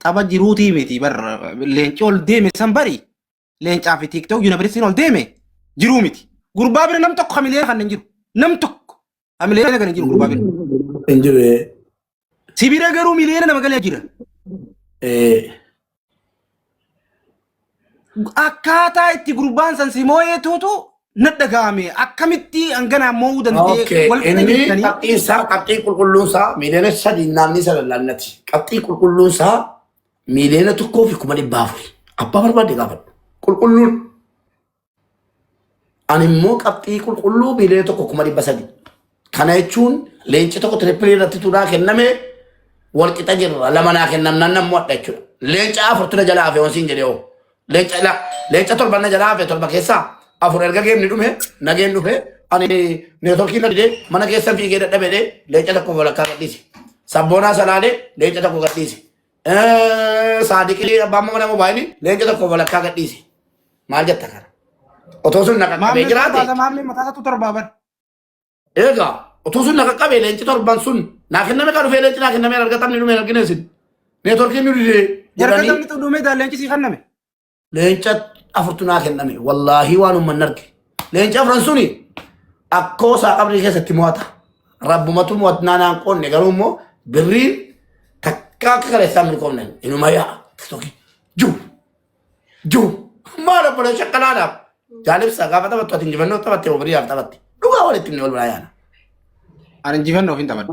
Tapha jiruutii miti bar leenci ol deeme san bari leencaa fi tiiktook yuunivarsiitiin ol deeme jiruu miti. Gurbaa bira nam tokko hamilee kan hin jiru. Nam tokko hamilee kan hin jiru gurbaa bira. Hin jiru. ee. Si bira garuu miliyoona nama galee jira. Ee. akkaataa itti gurbaan san si moo'eetuutu na dhaga'ame akkamitti hanganaan moo'uu danda'e Okay, wal inni dhaggeessanii qabxiin isaa qabxii qulqulluun isaa miiliyoona sadii naannii sana laannati. Qabxii qulqulluun isaa miiliyoona tokkoo fi kuma dhibba afuri. Abbaa barbaade gaafadhu. Qulqulluun Ani immoo qabxii qulqulluu miiliyoona tokko kuma dhibba sadi. Kana jechuun leenci tokko tirippilii irratti turaa kenname wal qixa jirra lama naa kennamnaan nan mo'adha jechuudha. Leenca afurtu na jalaa hafe wansiin jedhee hoo. Leenca la leenca torban na jalaa hafe torba keessaa afur erga geemni dhume nageen dhufe ani neetworkii na didee mana keessa fiigee dadhabedee leenca tokko walakkaa gadhiise. Sabboonaa salaalee leenca tokko gadhiise. Eh, Saadiqii abbaan mana mobaayini leenca tokko walakkaa gadhiise. Maal jetta kana? Otoo sun na qaqqabee Maamlee sun jiraate. baasa maamlee mataa isaatu torbaa bar. Egaa otoo sun na qaqqabee leenci torban sun naa kenname kan dhufee leenci naa kenname hin argatamne dhumee hin argine isin. Neetworkiin nu didee jedhanii Jargatamni xudhumee daaleenchi sii kanname. leenca afurtu naa kenname wallaahii waan umman arge leenca afran suni akkoo isaa qabrii keessatti mo'ata rabbumatu mo'atnaa naan qoonne garuu immoo birriin takka akka kaleessaa milkoomne inuma yaa tokki juu juu maal obbola shakkalaadhaaf jaalibsaa gaafa taphattu ati injifannoo taphatte moo biriyaaf taphatte dhugaa walitti himne wal biraa yaana Ani injifannoof hin taphadhu.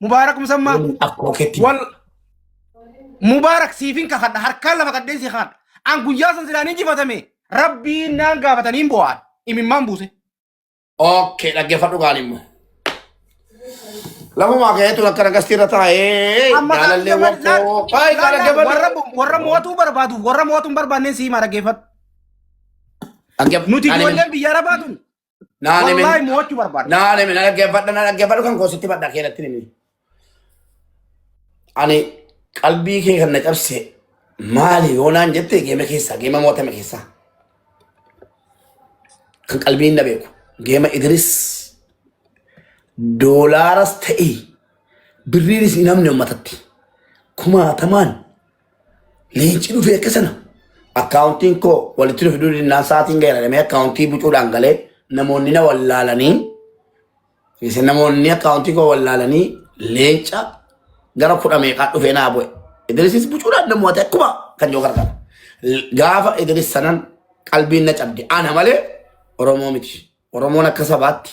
Mubaarak Musammaa. Waliin akkuma keetti. Wal Mubaarak siifin kakadha harkaan lama qaddeen si kakadha. An guyyaa san silaan injifatame rabbiin naan gaafatanii hin bo'aan imimmaan buuse. Okay, dhaggeeffadhu gaarii immoo. Lafumaa ka'eetu akka nagastii irra taa'ee Amma jaalallee kan- wakkoo. laal- Baay'ee laal- laal- warra dhaggeeffadhu. warra mo'atuu barbaadu warra mo'atuu hin barbaanneen siimaa dhaggeeffadhu. Dhaggeeffadhu. Nuti Ani- ijoolleen biyya arabaa tun Naan himin. Wallaahi mo'achuu barbaada. Naan himin. Na dhaggeeffadha na dhaggeeffadhu kan koositti badha keenatti himin. Ani qalbii kee kan na cabse maali yoo naan jette geema keessaa geema mo'atame keessaa kan qalbiin na beeku geema Idris doolaaras ta'e birriinis hin hamne uummatatti kumaatamaan Leenci dhufee akka sana akkaawuntiin koo walitti dhufe durii naan sa'aatiin gaheeradhamee akkaawuntii bucuudhaan galee namoonni na wallaalanii isa namoonni akkaawuntii koo wallaalanii leenca gara kudha meeqaa dhufee naa bu'e. Idrisis bucuudhaan na mo'ate akkuma kan yoo gargaara. Gaafa Idris sanan qalbiin na cabde ana malee Oromoo miti. Oromoon akka sabaatti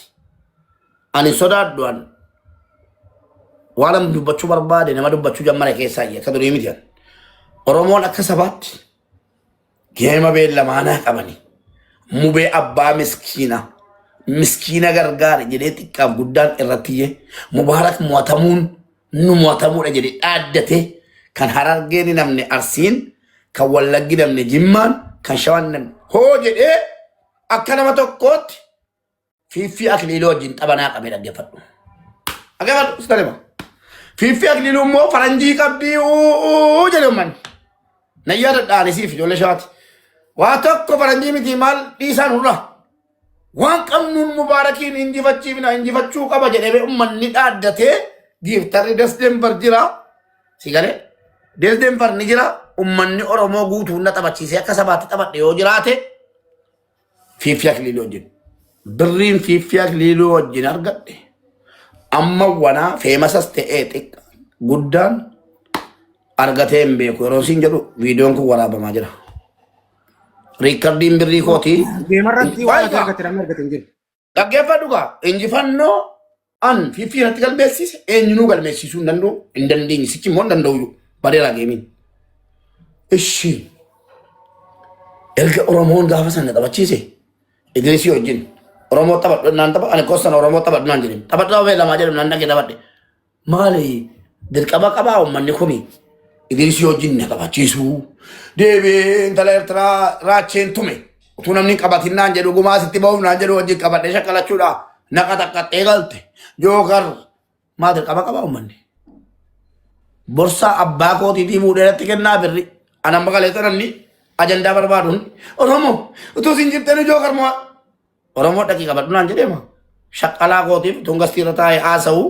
ani sodaadhu an waan an dubbachuu barbaade nama dubbachuu jammara keessaa iyyee akka durii miti an. Oromoon akka sabaatti geema beellamaanaa qabani. Mubee abbaa miskiina miskiina gargaara jedhee xiqqaaf guddaan irratti iyyee mubaarak mo'atamuun nu mo'atamuudha jedhee dhaaddatee kan harargeen hin namne arsiin kan wallaggi namne jimmaan kan shawaan hin namne hoo jedhee Akka nama tokkootti fiiffii akliiluu wajjin taphanaa qabee dhaggeeffadhu. Dhaggeeffadhu iska lema. Fiiffii akliiluu immoo faranjii qabdii uuu jedhe ummanni. Na yaadadhaani siif ijoollee shawaati. Waa tokko faranjii miti maal dhiisaan hurra. Waan qabnuun mubaarakiin injifachiifna injifachuu qaba jedhee ummanni dhaaddatee giiftarri dasteen bar jira. Si galee? Deelden far ni jira. Ummanni Oromoo guutuu hunda taphachiisee akka sabaatti taphadhe yoo jiraate fiiffii akiliilii wajjin. Birriin fiiffii akiliilii wajjin argadhe. Amma wanaa feemasas ta'ee xiqqa guddaan argatee hin beeku. Yeroo siin jedhu viidiyoon kun waraabamaa jira. Riikkardiin birrii kootii. Deemarratti waan Waayita. argate namni argate hin jiru. Dhaggeeffadhu kaa injifannoo an fiffii irratti galmeessiise eenyunuu galmeessiisuu hin danda'u hin dandeenye sichi immoo hin danda'u bareeraa geemiin. Ishi erga Oromoon gaafa sana taphachiise Idrisii wajjin Oromoo taphadhu naan tapha ani kossan Oromoo taphadhu naan jedhin taphadhu ta'uu lamaa jedhu naan dhagee taphadhe Maali dirqama qabaa uummanni kun Idriisii wajjin na qabachiisuu deebi'ee intala Eertiraa raacheen tume utuu namni hin qabatin naan jedhu gumaa sitti ba'uuf naan jedhu wajjin qabadhee shakkalachuudha na qaxaqqaxxee galte jookar maal dirqama qabaa uummanni borsaa abbaa kootiitii fuudhee irratti kennaa birri anan maqaleessa namni ajandaa barbaaduun oromoo utuu isin jirtanii jookar mo'aa Oromoo dhaqii qabadhu naan jedhee moo shaqqalaa kootiif tun gastii irra taa'ee haasa'u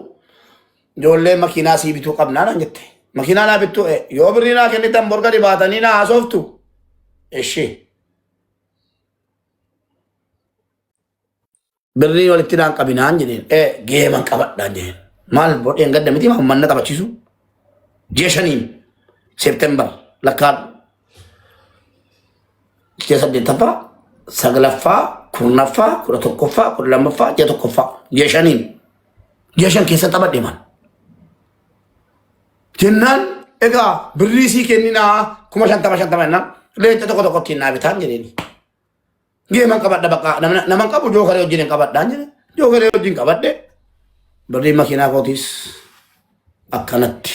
ijoollee makiinaa sii bituu qabnaa naan jette. Makiinaa naa bittuu ee yoo birrii naa kennitan borga dhibaatanii naa haasoftu. Ishii birrii walitti naan qabinaan jedheen ee geeman qabadhaan jedheen. Maal bodheen gadda miti maa manna taphachiisu. Ji'a shaniin Seeptembar lakkaadhu. Ji'a saddeettaffaa, saglaffaa, kurnaffaa, kudha tokkoffaa, kudha lammaffaa, ji'a tokkoffaa, ji'a shaniin. Ji'a shan keessa taphadhe man. Jennaan egaa birrii sii kenninaa kuma shantama shantama jennaan leenca tokko tokko ittiin naa bitaan jedheeni. Geeman qabadha bakka namna- naman qabu jookaree wajjin hin qabadhaan jedhe. Jookaree wajjin qabadhe birrii makiinaa kootiis akkanatti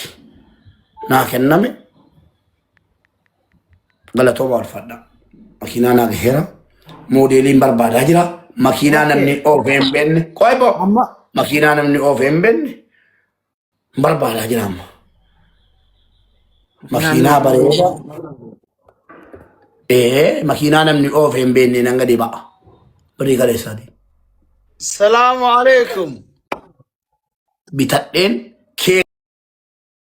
naa kenname. Galatooma walfadha. Makiinaa naa gaheera. Moodeeliin barbaadaa jira. Makiinaa namni Okay. oofee hin beekne. Qoy boo. Amma Makiinaa namni oofee hin beekne barbaadaa jira amma. makiinaan Makiinaa namni bareeda. Ee makiinaa namni oofee hin beekne nan gadi ba'a. Birrii kaleessaati. Salaamu alaikum. Bitadheen kee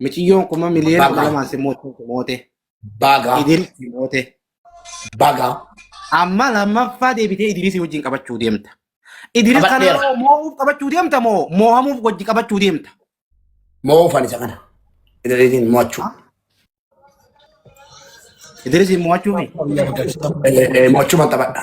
Miciyyoon kuma miliyoona Baga. kudha lamaan si moote. moote. Baga. Idil si moote. Baga. Amma lammaffaa deebitee Idirisii wajjin qabachuu deemta. Idiris kana Qabadheera. yeroo moo'uuf qabachuu deemta moo moohamuuf wajji qabachuu deemta. Moofan isa kana. Idiriisiin mo'achuu. Idirisiin moo'achuufi. Mo'achuu man taphadha.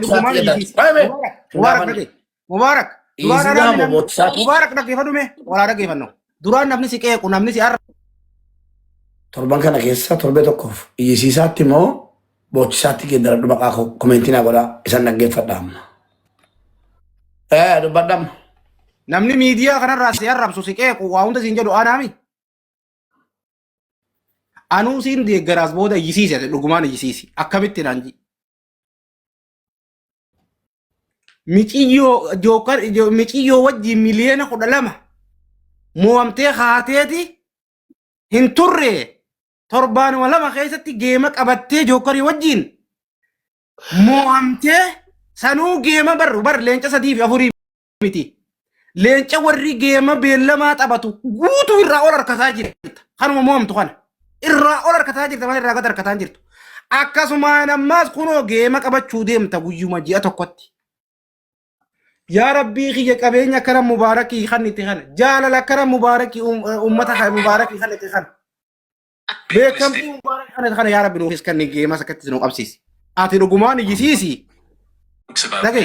Dhugumaan Mubarak Mubarak Mubarak dhage. Mubarak. Duraan Izinaa namni namni bobootsaa. Mubarak dhaggeeffadhu mee walaa dhaggeeffannu. Duraan namni si qeequ namni si arra. Torban kana keessa torbee tokkoof iyyisiisaatti immoo boochisaatti geeddaradhu maqaa koo komentii naa godhaa isan dhaggeeffadha amma. Ee dubbadham. Namni miidiyaa kanarraa si arrabsu si qeequ waa hunda siin jedhu anaami. Anuu siin deeggaraas booda iyyisiise dhugumaan iyyisiisi akkamitti naan ji. miciyyoo jookar jo- miciyyoo wajjin miliyoona kudha lama mo'amtee kaateeti hin turre torbaanuma lama keessatti geema qabattee jookarii wajjin mo'amtee sanuu geema barru bar leenca sadii fi afurii miti. Leenca warri geema beellamaa taphatu guutuu irraa ol harkataa jirta. Kanuma mo'amtu kana. Irraa ol harkataa jirta malee irraa gad harkataa hin jirtu. Akkasumaan ammaas kunoo geema qabachuu deemta guyyuma ji'a tokkotti. Yaa rabbii kiyya qabeenya akkana mubaarakii kan itti kana. Jaalala akkana mubaarakii um- uummata kan mubaarakii kan itti kana. Beekamtii mubaarakii kan itti kana yaa rabbi nuufis kan geemas akkatti nu qabsiisi. Ati dhugumaan iyyisiisi. Dhaga'i.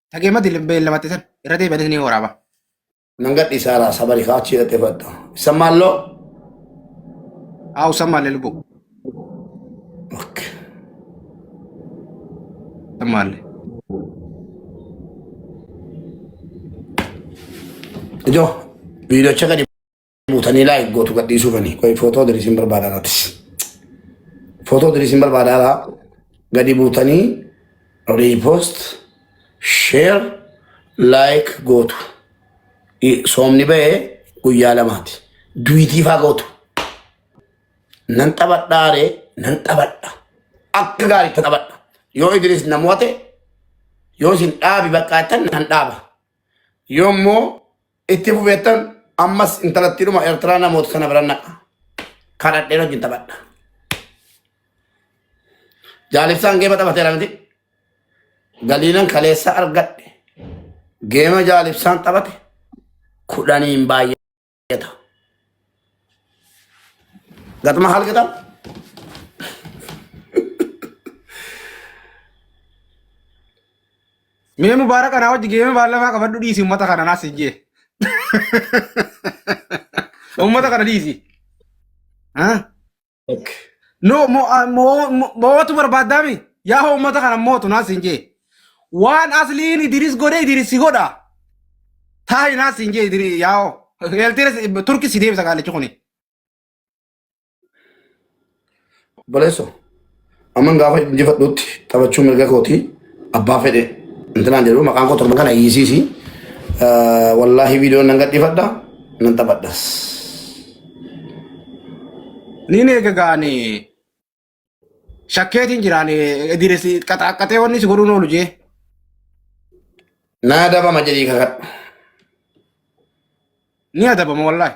Tagee mati beellamatti san irra deebi'anii ni waraaba. Nan gadhiisaa laa sabari kaa achi hidhatee fudhatta. Isa maalloo. Haa usan maalle lubbu. Okay. Usan maalle. Ijoo viidiyoocha gadi buutanii laa hin gootu gadhiisuu fanii qoy footoo diriisin barbaada irrattis footoo diriisin barbaada alaa gadi buutanii riipoost sheer laayik gootu I- soomni ba'ee guyyaa lamaati duwitii faa gootu nan taphadhaaree nan taphadha akka gaariitti taphadha yoo idiriis na mo'ate yoo isin dhaabi bakkaattan nan dhaaba yoo immoo Itti fufeettan ammas intalattiidhuma Eertiraa namoota sana bira naqa. Kadhadheen wajjin taphadha. Jaalibsaan geema taphateera miti. Galiinan kaleessa argadhe. Geema jaalibsaan taphate kudhaniin baay'ata. Gatuma haal gatamu. Mee mubaaraka naa wajji geemee baallafaa qabadhu dhiisi ummata kana naas hin jee. Ummata kana dhiisi. Ah. Okay. No mo ah, mo mo- mootu barbaaddaami. Yaa hoo ummata kana mootu naas hin jee. Waan asliin Idiris godhe Idiris si godha. Taayi naas hin jee Idiris yaa hoo. Eeltiinis Turki si deebisa gaalichi kuni. Obboleesso, amman gaafa injifadhuutti taphachuu mirga kooti abbaa fedhe intinaan jedhu maqaan koo torba kana hiisiisi. Wallaahi viidiyoon nan gadhiifadha nan taphadhas. Niin eega gaani shakkeetiin jiraan diresi qaxaaqqatee wanni si godhuun oolu jee. Naa dabama jedhii kakadhu. Ni adabama wallaahi.